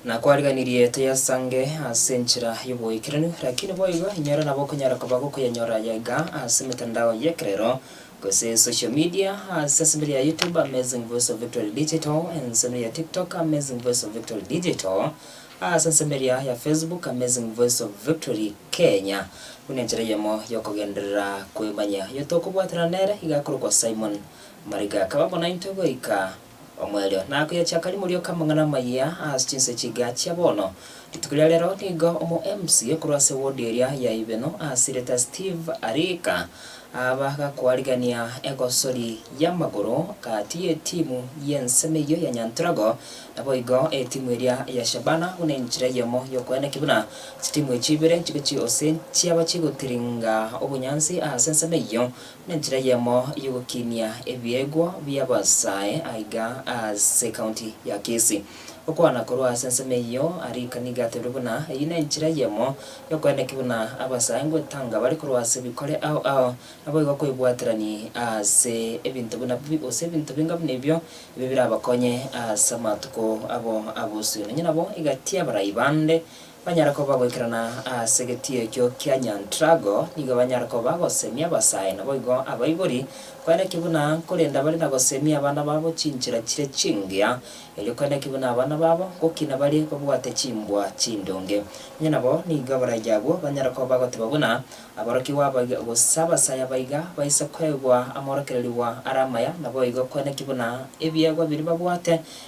Na kwariganirie toyasange ase enchera y'oboikeranu, lakini boigo inyora nabo okonyara koba gokoyanyora aya iga ase emetandao y'ekerero, gose social media, ase ensemeri ya YouTube Amazing Voice of Victory Digital, ensemeri ya TikTok Amazing Voice of Victory Digital, ase ensemeria ya Facebook Amazing Voice of Victory Kenya, buna enchera eyemo y'okogenderera kwemanya. Oyo tokobwatana nere iga akorokwa Simon Mariga, akaba bonaintwe goika. Omoerio nakoya chiakari morioka amang'ana amayia ase chinse chiga chia bono. Rituko ria rero nigo omo mca korwa ase wodi eria ya Ibeno asirete Steve Arika aba gakoarigania egosori y'amagoro gati y'etimu y'ensemo eyio ya Nyantorago naboigo etimu eria ya Shabana buna enchera eyemo yokoeana ki buna chitimu echi ibere chigochia gose chiaba chigotiringa obonyansi ase ensemo eyio Nenchera eyemo y'ogokinia ebiegwa bi'abasae aiga ase County ya Kisii. Gokwana korwa ase ensemo eyio arika nigo atebirie buna eyio nenchera eyemo yokoenda ki buna abasae ngwetanga bare korwa ase ebikore ao ao naboigo koibwaterania ase ebinto buna bi gose ebinto binga buna ebio ebio birabakonye ase amatuko abo abosio. Nonya nabo egati y'abarai bande Banyare koba goikerana ase getiyo ekio kia Nyantrago, nigo banyare koba gosemia abasae, naboigo abaibori, kwene naki buna nkorenda bare na gosemia abana babo chinchera chire chingiya, erio kwene naki buna abana babo gokina bare babwate chimbwa chindonge. Onye nabo nigo abaraiyo agwo, banyare koba bagoteba buna aborokigwa abaiga, gose abasae abaiga, baise kwegwa amaorokererigwa are amaya, naboigo kwene naki buna ebiegwa biria babwate,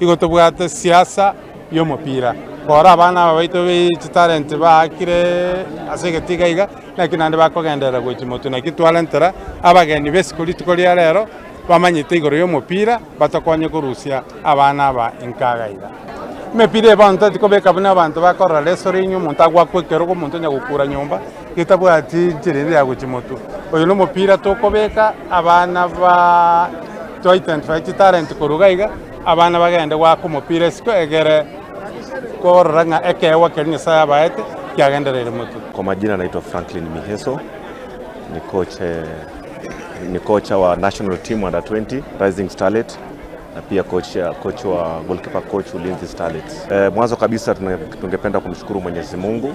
Igo tobwate siasa y'omopira, kora abana aba baito be chitalent baakire ase egetiga iga, naki naende bakogenderera gochia motu. Naki twarentera abageni b'isiko rituko ria rero bamanyete igoro y'omopira batokonye korusia abana aba inkaga iga. Emepira eye bono toeti kobeka buna abanto bakorora resorenyo, omonto agwakwa ekero, omonto onye gokura nyomba. Getabwati inchera ende ya gochia motwe. Oyo nomopira tokobeka abana ba to identify chitalent korwa iga iga abana bagende goaka omopira isiko egere korora ng'a ekeegwa keria Nyasaye abaete kiagendereire motwe. Kwa majina naitwa Franklin Miheso, ni coach ni kocha wa national team under 20 rising starlet na pia coach, coach wa goalkeeper coach ulinzi starlets. E, mwanzo kabisa tungependa kumshukuru Mwenyezi Mungu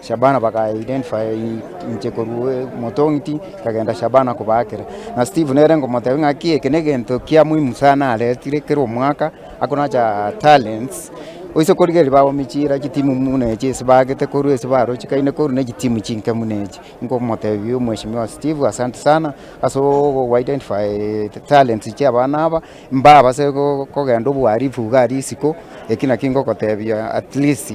Shabana baka identify inche korwa omotong'iti nkagenda Shabana kobaakera, na Steve nere ngomotebia ng'aki eke negento kia muhimu sana aretire kera omwaka akonacha talents oise korigereria bagomi chira chitimu muna echi ase baagete korwa ase barochekaine korwa ne chitimu chinke muna echi, nkomotebia mweshimiwa Steve asante sana ase ogo identify talents chia abana aba mbabase kogenda obuharifu iga risiko eki naki ngokotebia at least.